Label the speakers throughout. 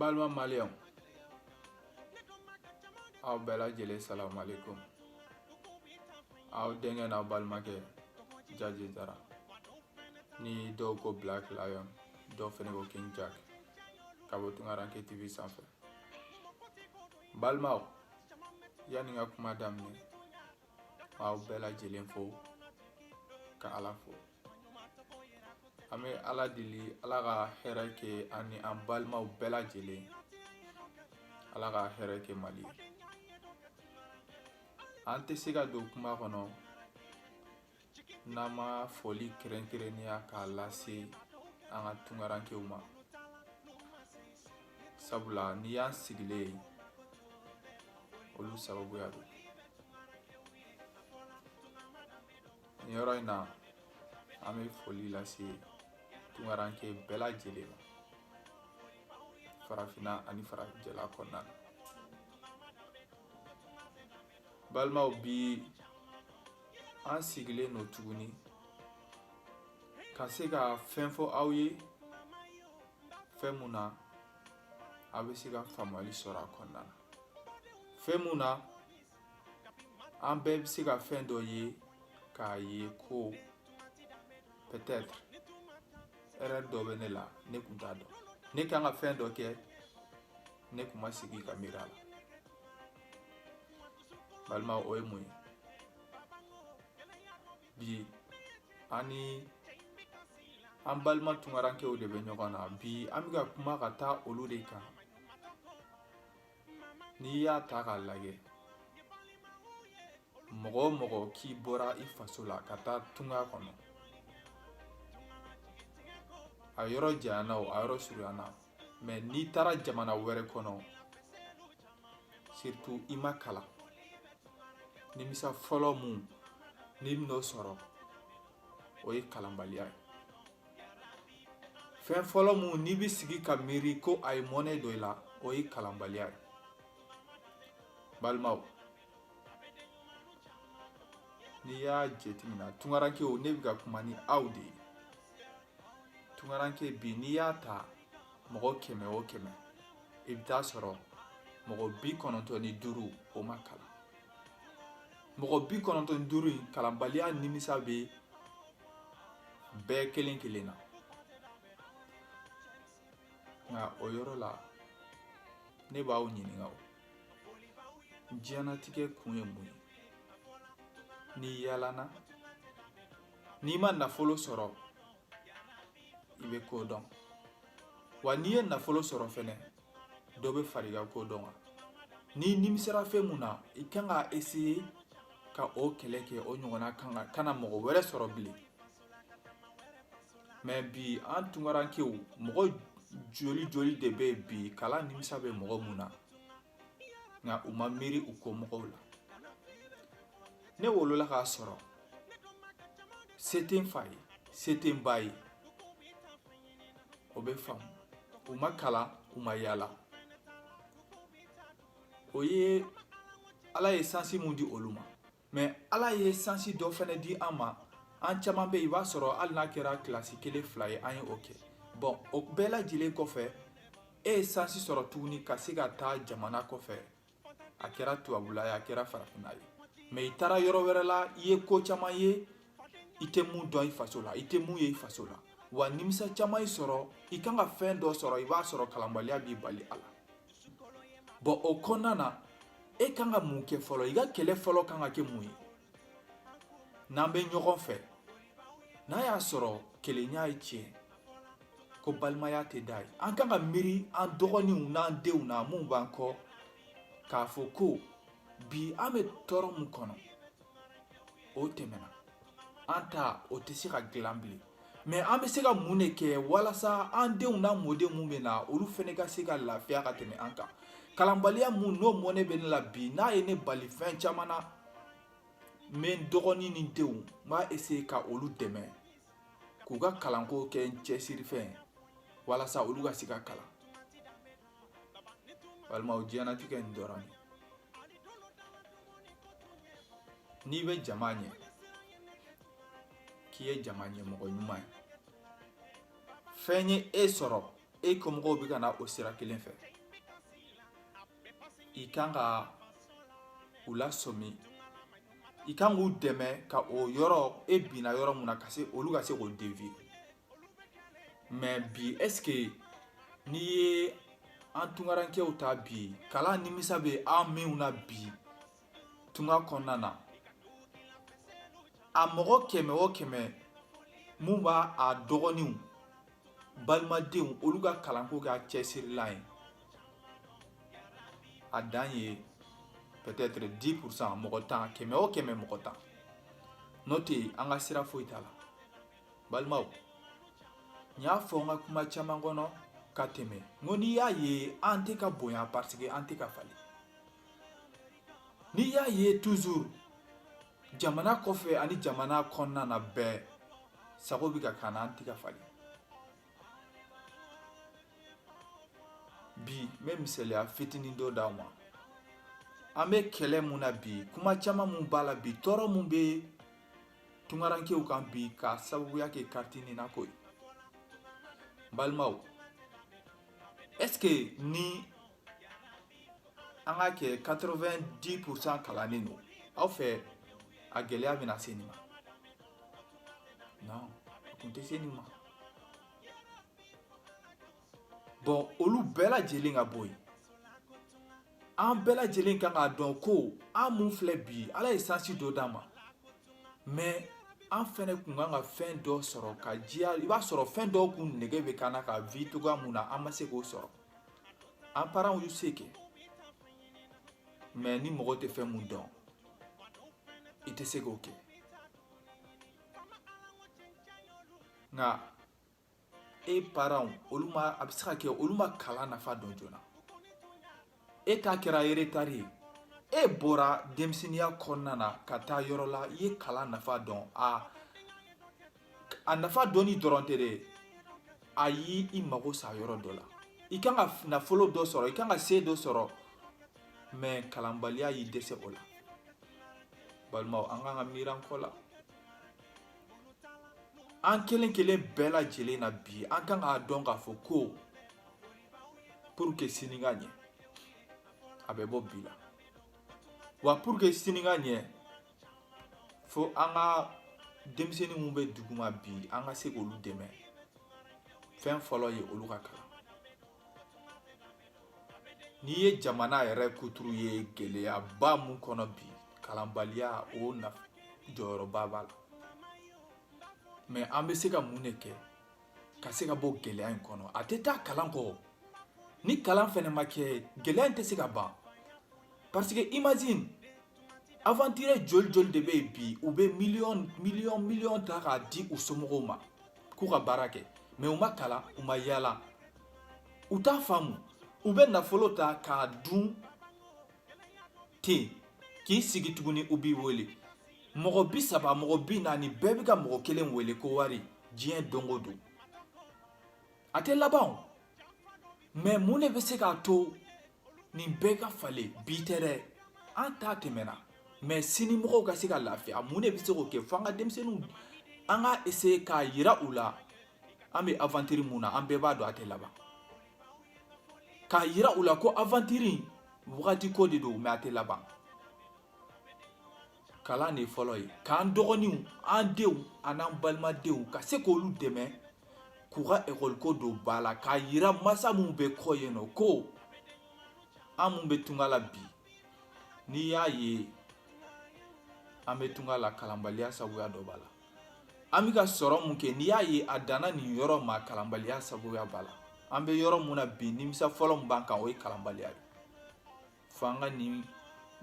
Speaker 1: balima maliyɛnw aw bɛɛ lajɛlen salamalekum aw denkɛ n'aw balimakɛ jaji jara ni dɔw ko black lion dɔw fɛnɛ ko king jack ka bɔ tungaranke tv sanfɛ balimaw yanni n ka kuma daminɛ aw bɛɛ lajɛlen fo ka ala fo an bɛ ala deli ala ka hɛrɛ kɛ an ni an balimaw bɛɛ lajɛlen ala ka hɛrɛ kɛ mali an tɛ se ka don kuma kɔnɔ n'an ma foli kɛrɛnkɛrɛnnenya k'a lase an ka tunkarankew ma sabula n'i y'an sigilen ye olu sababuya don nin yɔrɔ in na an bɛ foli lase tunkaranke bɛɛ lajɛlen ma farafinna ani farajɛla kɔnɔna na balimaw bi an sigilen don tuguni ka se ka fɛn fɔ aw ye fɛn mun na aw bɛ se ka faamuyali sɔrɔ a kɔnɔna na fɛn mun na an bɛɛ bɛ se ka fɛn dɔ ye k'a ye ko peut-être erreur dɔ bɛ ne la ne kun t'a dɔn ne kan ka fɛn dɔ kɛ ne kun ma sigi ka miiri a la balimaw o ye mun ye bi an ni an balima tunkarankew de bɛ ɲɔgɔn na bi an bɛ ka kuma ka taa olu de kan n'i y'a ta k'a lajɛ mɔgɔ o mɔgɔ k'i bɔra i faso la ka taa tunga kɔnɔ a yɔrɔ janyana o a yɔrɔ surunyana mais n'i taara jamana wɛrɛ kɔnɔ surtout i ma kalan nimisa fɔlɔ mun n'i bɛn'o sɔrɔ o ye kalanbaliya ye fɛn fɔlɔ mun n'i bɛ sigi ka miiri ko a ye mɔnɛ don i la o ye kalanbaliya ye balimaw n'i y'a jateminɛ tunkarankew ne bɛ ka kuma ni aw de ye tunkaranke bi n'i y'a ta mɔgɔ kɛmɛ o kɛmɛ i bɛ t'a sɔrɔ mɔgɔ bi kɔnɔntɔn ni duuru o ma kalan mɔgɔ bi kɔnɔntɔn ni duuru in kalanbaliya nimisa bɛ bɛɛ kelen kelen na nka o yɔrɔ la ne b'aw ɲininka o diɲɛnatigɛ kun ye mun ye n'i yaalana n'i ma nafolo sɔrɔ i bɛ ko dɔn wa n'i ye nafolo sɔrɔ fɛnɛ dɔ bɛ fara i ka ko dɔn kan n'i nimisara fɛn mun na i kan ka essayer ka o kɛlɛ kɛ o ɲɔgɔnna kana mɔgɔ wɛrɛ sɔrɔ bilen mɛ bi an tunkarankew mɔgɔ joli joli de bɛ yen bi kalan nimisa bɛ mɔgɔ mun na nka u ma miiri u kɔmɔgɔw la ne wolola k'a sɔrɔ se tɛ n fa ye se tɛ n ba ye o bɛ faamu u ma kalan u ma yaala o ye ala ye sansi mun di olu ma mɛ ala ye sansi dɔ fɛnɛ di an ma an caman bɛ yen i b'a sɔrɔ hali n'a kɛra kilasi kelen fila ye an ye o kɛ bɔn o bɛɛ lajɛlen kɔfɛ e ye sansi sɔrɔ tuguni ka se ka taa jamana kɔfɛ a kɛra tubabula ye a kɛra farafina ye mɛ i taara yɔrɔ wɛrɛ la i ye ko caman ye i tɛ mun dɔn i faso la i tɛ mun ye i faso la wa nimisa caman y'i sɔrɔ i kan ka fɛn dɔ sɔrɔ i b'a sɔrɔ kalanbaliya b'i bali a la bɔn o kɔnɔna na e kan ka mun kɛ fɔlɔ i ka kɛlɛ fɔlɔ kan ka kɛ mun ye n'an bɛ ɲɔgɔn fɛ n'a y'a sɔrɔ kelenya ye tiɲɛ ko balimaya tɛ da ye an kan ka miiri an dɔgɔninw n'an denw na mun b'an kɔ k'a fɔ ko bi an bɛ tɔɔrɔ mun kɔnɔ o tɛmɛna an ta o tɛ se ka dilan bilen mɛ an bɛ se ka mun de kɛ walasa an denw n'an mɔdenw mun bɛ na olu fɛnɛ ka se ka lafiya ka tɛmɛ an kan kalanbaliya mun n'o mɔnɛ bɛ ne la bi n'a ye ne bali fɛn caman na n bɛ n dɔgɔnin ni denw n b'a essayer ka olu dɛmɛ k'u ka kalanko kɛ n cɛsirifɛn walasa olu ka se ka kalan balimaw diɲɛnatigɛ nin dɔrɔn ye n'i bɛ jama ɲɛ k'i ye jama ɲɛmɔgɔ ɲuman ye fɛn ye e sɔrɔ e kɔmɔgɔw bɛ ka na o sira kelen fɛ i kan ka u lasɔmi i kan k'u dɛmɛ ka o yɔrɔ e binna yɔrɔ mun na ka se olu ka se k'o deviye mais bi est-ce que n'i ye an tungarankew ta bi kalan nimisa bɛ an minnu na bi tunga kɔnɔna na a mɔgɔ kɛmɛ o kɛmɛ mun b'a a dɔgɔninw balimadenw olu ka kalanko kɛ a cɛsirilan ye a dan ye peut-être 10 pourcent mɔgɔ tan kɛmɛ o kɛmɛ mɔgɔ tan n'o tɛ an ka sira foyi t'a la balimaw n y'a fɔ n ka kuma caman kɔnɔ ka tɛmɛ n ko n'i y'a ye an tɛ ka bonya parce que an tɛ ka falen n'i y'a ye toujours jamana kɔfɛ ani jamana kɔnɔna na bɛɛ sago bɛ ka k'an na an tɛ ka falen bi n bɛ misaliya fitinin dɔ d'aw ma an bɛ kɛlɛ mun na bi kuma caman mun b'a la bi tɔɔrɔ mun bɛ tungarankew kan bi ka sababuya kɛ kariti nina ko ye balimaw est-ce que ni an ka kɛ 90 pourcent kalannen don aw fɛ a gɛlɛya bɛna se nin ma non a tun tɛ se nin ma bon olu bɛɛ lajɛlen ka bɔ yen an bɛɛ lajɛlen kan k'a dɔn ko an mun filɛ bi ala ye sansi dɔ d'an ma mais an fɛnɛ kun kan ka fɛn dɔ sɔrɔ ka diya i b'a sɔrɔ fɛn dɔw kun nege bɛ k'an na ka vie togoya mun na an ma se k'o sɔrɔ an parents y'u se kɛ mais ni mɔgɔ tɛ fɛn mun dɔn i tɛ se k'o kɛ nka e parents olu ma a bɛ se ka kɛ olu ma kalan nafa dɔn joona e ta kɛra retard ye e bɔra denmisɛnninya kɔnɔna na ka taa yɔrɔ la i ye kalan nafa dɔn a a nafa dɔnni dɔrɔn tɛ dɛ a y'i i mago sa yɔrɔ dɔ la i kan ka nafolo dɔ sɔrɔ i kan ka se dɔ sɔrɔ mais kalanbaliya y'i dɛsɛ o la balimaw an kan ka miir'an kɔ la an kelen kelen bɛɛ lajɛlen na bi an kan k'a dɔn k'a fɔ ko pour que sini ka ɲɛ a bɛ bɔ bi la wa pour que sini ka ɲɛ fo an ka denmisɛnnin minnu bɛ duguma bi an ka se k'olu dɛmɛ fɛn fɔlɔ ye olu ka kalan N'i ye jamana yɛrɛ kuturu ye gɛlɛyaba mun kɔnɔ bi kalanbaliya o fana jɔyɔrɔba b'a la mais an bɛ se ka mun de kɛ ka se ka bɔ gɛlɛya in kɔnɔ a tɛ taa kalan kɔ ni kalan fɛnɛ ma kɛ gɛlɛya in tɛ se ka ban parce que imagine aventurier joli joli de bɛ yen bi u bɛ miliyɔn miliyɔn miliyɔn ta k'a di u somɔgɔw ma k'u ka baara kɛ mais u ma kalan u ma yaala u t'a faamu u bɛ nafolo ta k'a dun ten k'i sigi tuguni u b'i wele mɔgɔ bi saba mɔgɔ bi naani bɛɛ bɛ ka mɔgɔ kelen wele ko wari diɲɛ don o don a tɛ laban o mais mun de bɛ se k'a to nin bɛɛ ka falen bi tɛ dɛ an ta tɛmɛna mais sini mɔgɔw ka se ka lafiya mun de bɛ se k'o kɛ fo an ka denmisɛnninw an ka essayer k'a yira u la an bɛ aventure mun na an bɛɛ b'a dɔn a tɛ laban k'a yira u la ko aventure wagati ko de don mais a tɛ laban kalan de fɔlɔ ye k'an dɔgɔninw an denw an'an balimadenw ka se k'olu dɛmɛ k'u ka ekɔliko don ba la k'a yira masa minnu bɛ kɔ yen nɔ ko an minnu bɛ tunga la bi n'i y'a ye an bɛ tunga la kalanbaliya sabuya dɔ b'a la an bɛ ka sɔrɔ mun kɛ n'i y'a ye a danna nin yɔrɔ ma kalanbaliya sabuya b'a la an bɛ yɔrɔ mun na bi nimisa fɔlɔ min b'an kan o ye kalanbaliya ye fo an ka nin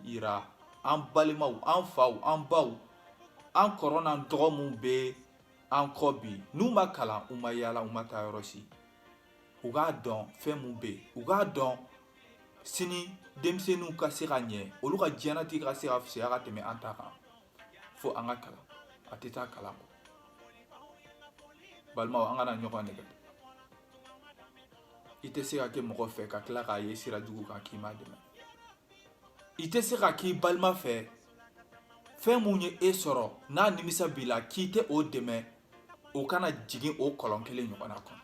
Speaker 1: yira an balimaw an faw an baw an kɔrɔ n'an dɔgɔ minnu bɛ an kɔ bi n'u ma kalan u ma yaala u ma taa yɔrɔ si u k'a dɔn fɛn mun bɛ yen u k'a dɔn sini denmisɛnninw ka se ka ɲɛ olu ka diɲɛnatigɛ ka se ka fisaya ka tɛmɛ an ta kan fo an ka kalan a tɛ taa kalan kɔ balimaw an kana ɲɔgɔn nɛgɛn i tɛ se ka kɛ mɔgɔ fɛ ka tila k'a ye sira jugu kan k'i m'a dɛmɛ i tɛ se ka k'i balima fɛ fɛn mun ye e sɔrɔ n'a nimisa b'i la k'i tɛ o dɛmɛ o kana jigin o kɔlɔn kelen ɲɔgɔn na kɔnɔ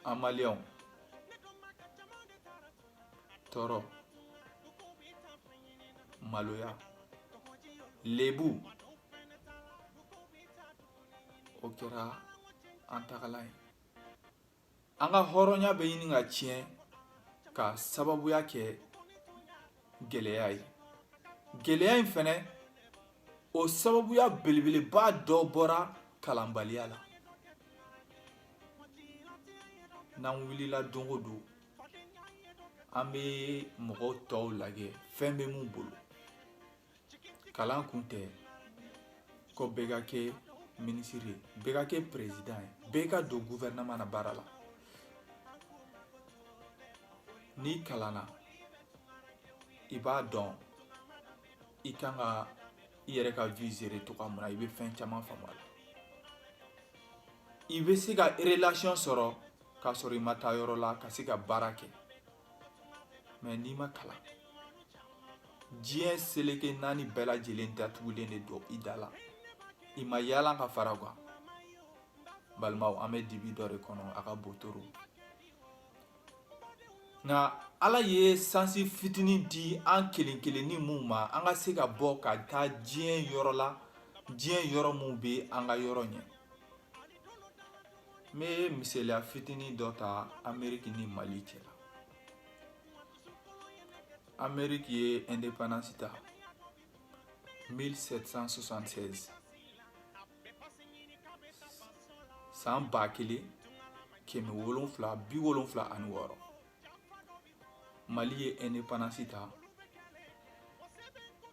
Speaker 1: an maliyɛnw tɔɔrɔ maloya lebu o kɛra an tagalan ye an ka hɔrɔnya bɛ ɲini ka tiɲɛ ka sababuya kɛ gɛlɛya ye gɛlɛya in fɛnɛ o sababuya belebeleba dɔ bɔra kalanbaliya la n'an wulila don o don an bɛ mɔgɔ tɔw lajɛ fɛn bɛ mun bolo kalan kun tɛ ko bɛɛ ka kɛ minisiri ye bɛɛ ka kɛ perezidan ye bɛɛ ka don guvɛrɛnaman na baara la n'i kalanna i b'a dɔn i kan ka i yɛrɛ ka vie gérer cogoya mun na i bɛ fɛn caman faamu a la i bɛ se ka relation sɔrɔ k'a sɔrɔ i ma taa yɔrɔ la ka se ka baara kɛ mais n'i ma kalan diɲɛ seleke naani bɛɛ lajɛlen datugulen de don i da la i ma yaala ka fara kan balimaw an bɛ dibi dɔ de kɔnɔ a ka bon trop nka ala ye sansi fitinin di an kelen kelenni minnu ma an ka se ka bɔ ka taa diɲɛ yɔrɔ la diɲɛ yɔrɔ minnu bɛ an ka yɔrɔ ɲɛ n bɛ misaliya fitinin dɔ ta ameriki ni mali cɛ la ameriki ye indépendance ta 1776 san ba kelen kɛmɛ wolonfila bi wolonfila ani wɔɔrɔ mali ye indépendance ta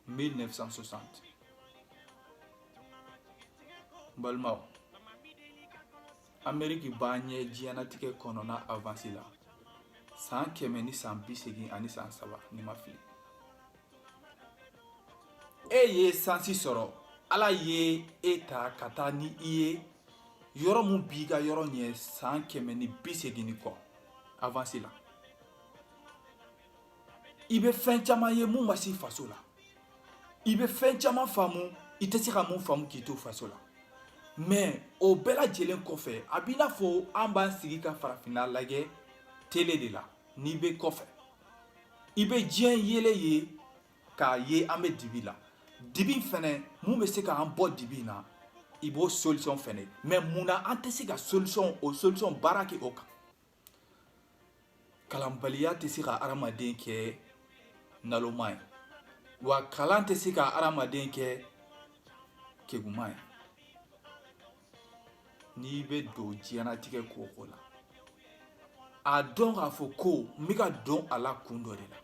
Speaker 1: 1960 balimaw ameriki b'a ɲɛ diɲɛnatigɛ kɔnɔna avansi la san kɛmɛ ni san bi segin ani san saba ni n ma fili e ye sansi sɔrɔ ala ye e ta ka taa ni i ye yɔrɔ min b'i ka yɔrɔ ɲɛ san kɛmɛ ni bi segin ni kɔ avansi la i bɛ fɛn caman ye mun ma s'i faso la i bɛ fɛn caman faamu i tɛ se ka mun faamu k'i to faso la mais o bɛɛ lajɛlen kɔfɛ a b'i n'a fɔ an b'an sigi ka farafinna lajɛ tele de la n'i bɛ kɔfɛ i bɛ diɲɛ yeelen ye k'a ye an bɛ dibi la dibi fɛnɛ mun bɛ se k'an bɔ dibi in na i b'o solution fɛnɛ ye mais mun na an tɛ se ka solution o solution baara kɛ o kan kalanbaliya tɛ se ka adamaden kɛ naloma ye wa kalan tɛ se ka adamaden kɛ keguman ye n'i bɛ don diɲɛnatigɛ ko o ko la a dɔn k'a fɔ ko n bɛ ka don a la kun dɔ de la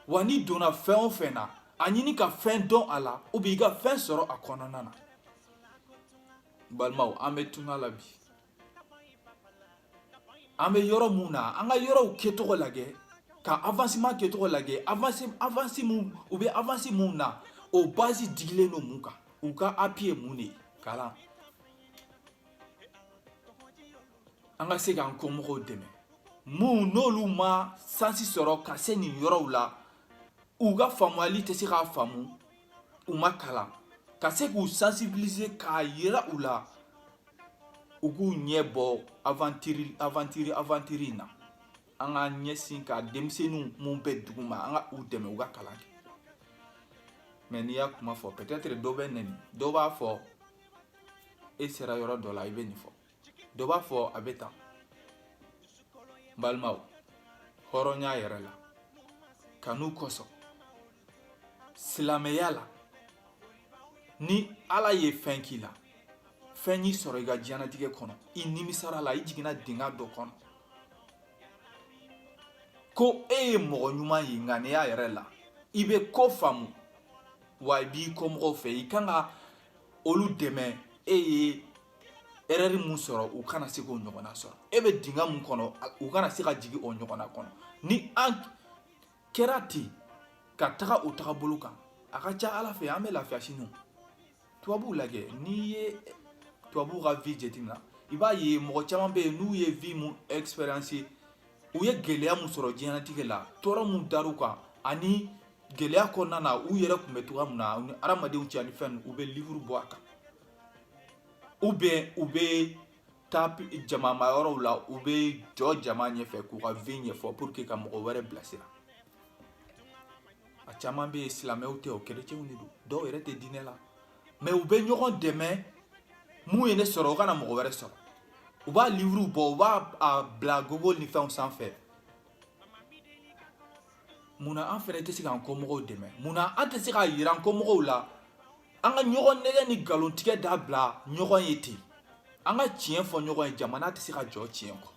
Speaker 1: wa n'i donna fɛn o fɛn na a ɲini ka fɛn dɔn a la ou bien i ka fɛn sɔrɔ a kɔnɔna na balimaw an bɛ tunga la bi an bɛ yɔrɔ mun na an ka yɔrɔw kɛcogo lajɛ ka avancement kɛcogo lajɛ avance mun u bɛ avance mun na o base digilen don mun kan u ka appui ye mun de ye kalan an ka se k'an kɔmɔgɔw dɛmɛ mun n'olu ma sansi sɔrɔ ka se nin yɔrɔw la u ka faamuyali tɛ se k'a faamu u ma kalan ka se k'u sensibiliser k'a yira u la u k'u ɲɛ bɔ aventure aventure aventure in na an k'an ɲɛsin ka denmisɛnninw mun bɛ duguma an ka u dɛmɛ u ka kalan kɛ mais n'i y'a kuma fɔ peut-être dɔ bɛ nɛni dɔ b'a fɔ e sera yɔrɔ dɔ la i bɛ nin fɔ dɔ b'a fɔ a bɛ tan balimaw hɔrɔnya yɛrɛ la kanu kosɔn silamɛya la ni ala ye fɛn k'i la fɛn y'i sɔrɔ i ka diɲɛnatigɛ kɔnɔ i nimisara la i jiginna dingɛ dɔ kɔnɔ ko e ye mɔgɔ ɲuman ye ŋaniya yɛrɛ la i bɛ ko faamu wa i b'i kɔmɔgɔw fɛ i kan ka olu dɛmɛ e ye erreur mun sɔrɔ u kana se k'o ɲɔgɔnna sɔrɔ e bɛ dingɛ mun kɔnɔ u kana se ka jigin o ɲɔgɔnna kɔnɔ ni an kɛra ten ka taga o tagabolo kan a ka ca ala fɛ an bɛ lafiya sini tubabuw lajɛ n'i ye tubabuw ka vie jateminɛ i b'a ye mɔgɔ caman bɛ yen n'u ye vie mun expérience u ye gɛlɛya mun sɔrɔ diɲɛnatigɛ la tɔɔrɔ mun dar'u kan ani gɛlɛya kɔnɔna na u yɛrɛ tun bɛ cogoya min na u ni hadamadenw cɛ ani fɛn u bɛ livuru bɔ a kan ou bien u bɛ taa jamamayɔrɔw la u bɛ jɔ jama ɲɛfɛ k'u ka vie ɲɛfɔ pour que ka mɔgɔ wɛrɛ bilasira a caman bɛ yen silamɛw tɛ o kerecɛnw de don dɔw yɛrɛ tɛ diinɛ la mais u bɛ ɲɔgɔn dɛmɛ mun ye ne sɔrɔ o kana mɔgɔ wɛrɛ sɔrɔ u b'a livuru bɔ u b'a bila google ni fɛnw sanfɛ munna an fɛnɛ tɛ se k'an kɔmɔgɔw dɛmɛ munna an tɛ se k'a yira an kɔmɔgɔw la an ka ɲɔgɔn nɛgɛ ni nkalontigɛ dabila ɲɔgɔn ye ten an ka tiɲɛ fɔ ɲɔgɔn ye jamana tɛ se ka jɔ tiɲɛ kɔ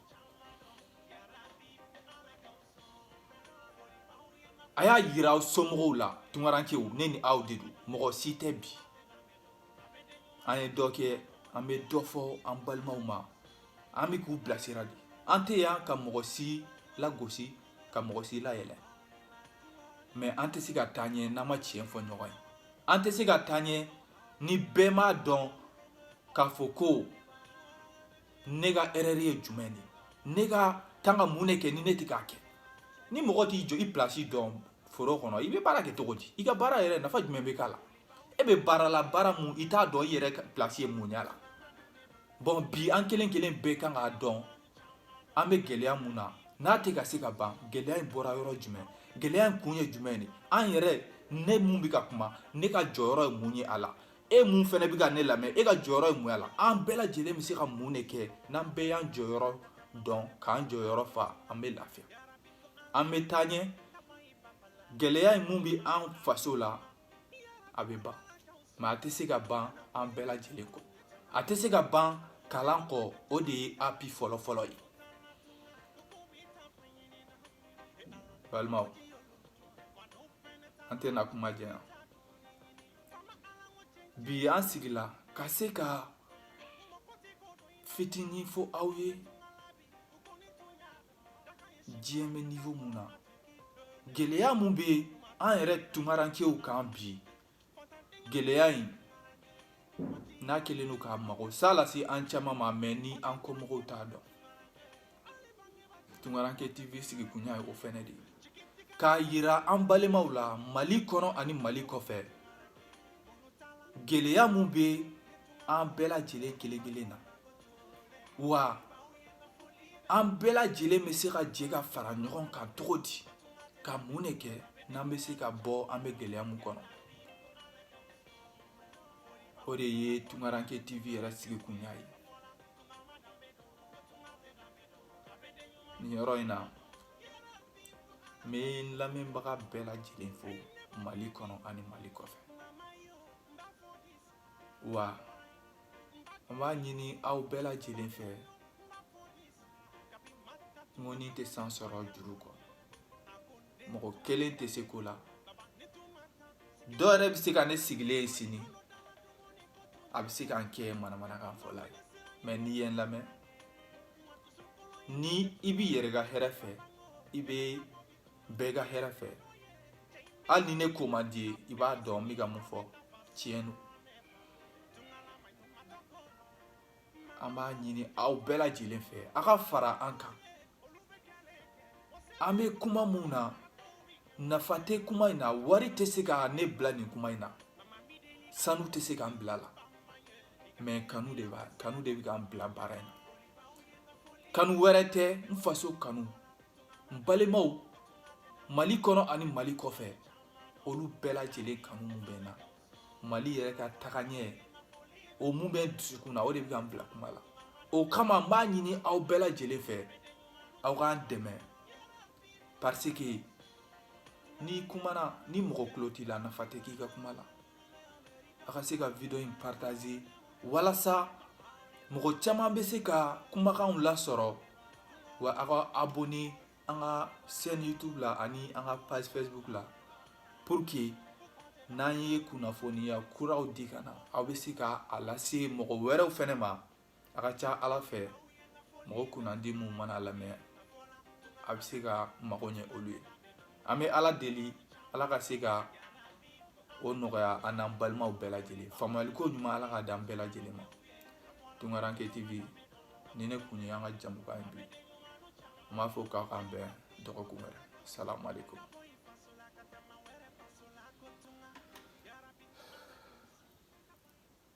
Speaker 1: a y'a yira aw somɔgɔw la tunkarankew ne ni aw de don mɔgɔ si tɛ bi an ye dɔ kɛ an bɛ dɔ fɔ an balimaw ma an bɛ k'u bilasira de an tɛ yan ka mɔgɔ si lagosi ka mɔgɔ si layɛlɛ mais an tɛ se ka taa ɲɛ n'an ma tiɲɛ fɔ ɲɔgɔn ye an tɛ se ka taa ɲɛ ni bɛɛ m'a dɔn k'a fɔ ko ne ka erreur ye jumɛn de ne ka kan ka mun de kɛ ni ne tɛ k'a kɛ ni mɔgɔ t'i jɔ i place dɔn foro kɔnɔ i bɛ baara kɛ cogo di i ka baara yɛrɛ nafa jumɛn bɛ k'a la e bɛ baara la baara mun i t'a dɔn i yɛrɛ plasi ye mun y'a la bɔn bi an kelen kelen bɛɛ kan k'a dɔn an bɛ gɛlɛya mun na n'a tɛ ka se ka ban gɛlɛya in bɔra yɔrɔ jumɛn gɛlɛya in kun ye jumɛn de an yɛrɛ ne mun bɛ ka kuma ne ka jɔyɔrɔ ye mun ye a la e mun fɛnɛ bɛ ka ne lamɛn e ka jɔyɔrɔ ye mun a la an bɛɛ lajɛlen bɛ se ka mun de kɛ n'an bɛɛ y'an jɔyɔrɔ dɔn k'an jɔyɔrɔ fa an bɛ lafiya an bɛ taa ɲɛ gɛlɛya in mun bɛ an faso la a bɛ ban mɛ a tɛ se ka ban an bɛɛ lajɛlen kɔ a tɛ se ka ban kalan kɔ o de ye api fɔlɔfɔlɔ ye balimaw an tɛna kuma janya bi an sigila ka se ka fitinin fɔ aw ye diɲɛ bɛ nivo mun na gɛlɛya mun bɛ an yɛrɛ tunkarankew kan bi gɛlɛya in n'a kɛlen don ka magosa lase an caman ma mɛ ni an kɔmɔgɔw t'a dɔn tunkaranke tv sigikun ye o fɛnɛ de ye k'a yira an balimaw la mali kɔnɔ ani mali kɔfɛ gɛlɛya mun bɛ an bɛɛ lajɛlen kelen kelen na wa an bɛɛ lajɛlen bɛ se ka jɛ ka fara ɲɔgɔn kan cogo di ka mun de kɛ n'an bɛ se ka bɔ an bɛ gɛlɛya mun kɔnɔ o de ye tunkaranke tv yɛrɛ sigikunya ye nin yɔrɔ in na n bɛ n lamɛnbaga bɛɛ lajɛlen fo mali kɔnɔ ani mali kɔfɛ wa an b'a ɲini aw bɛɛ lajɛlen fɛ ŋɔni tɛ san sɔrɔ juru kɔ mɔgɔ kelen tɛ se ko la dɔ yɛrɛ bɛ se ka ne sigilen ye sini a bɛ se ka n kɛ manamanakan fɔla ye mɛ n'i ye n lamɛn ni i b'i yɛrɛ ka hɛrɛ fɛ i bɛ bɛɛ ka hɛrɛ fɛ hali ni ne ko man d'i ye i b'a dɔn n bɛ ka mun fɔ tiɲɛ don an b'a ɲini aw bɛɛ lajɛlen fɛ a ka fara an kan an bɛ kuma mun na nafa tɛ kuma in na wari tɛ se ka ne bila nin kuma in na sanu tɛ se k'an bil'a la mɛ kanu de b'a kanu de bɛ k'an bila baara in na kanu wɛrɛ tɛ n faso kanu n balimaw mali kɔnɔ ani mali kɔfɛ olu bɛɛ lajɛlen kanu mun bɛ n na mali yɛrɛ ka tagaɲɛ o mun bɛ n dusukun na o de bɛ ka n bila kuma la o kama n b'a ɲini aw bɛɛ lajɛlen fɛ aw k'an dɛmɛ parce que n'i kumana ni mɔgɔ tulo t'i la nafa tɛ k'i ka kuma la a ka se ka video in partager walasa mɔgɔ caman bɛ se ka kumakanw lasɔrɔ wa a ka abonner an ka chaîne YouTube la ani an ka page Facebook la pour que n'an ye kunnafoniya kuraw di ka na aw bɛ se ka a lase mɔgɔ wɛrɛw fɛnɛ ma a ka ca ala fɛ mɔgɔ kunnandi minnu mana lamɛn a bɛ se ka mago ɲɛ olu ye an bɛ ala deli ala ka se ka o nɔgɔya an n'an balimaw bɛɛ lajɛlen faamuyali ko ɲuman ala k'a d'an bɛɛ lajɛlen ma tunkaranke tv nin ne kun ye an ka jamukan ye bi n b'a fɔ k'a k'an bɛn dɔgɔkun wɛrɛ salamu aleykum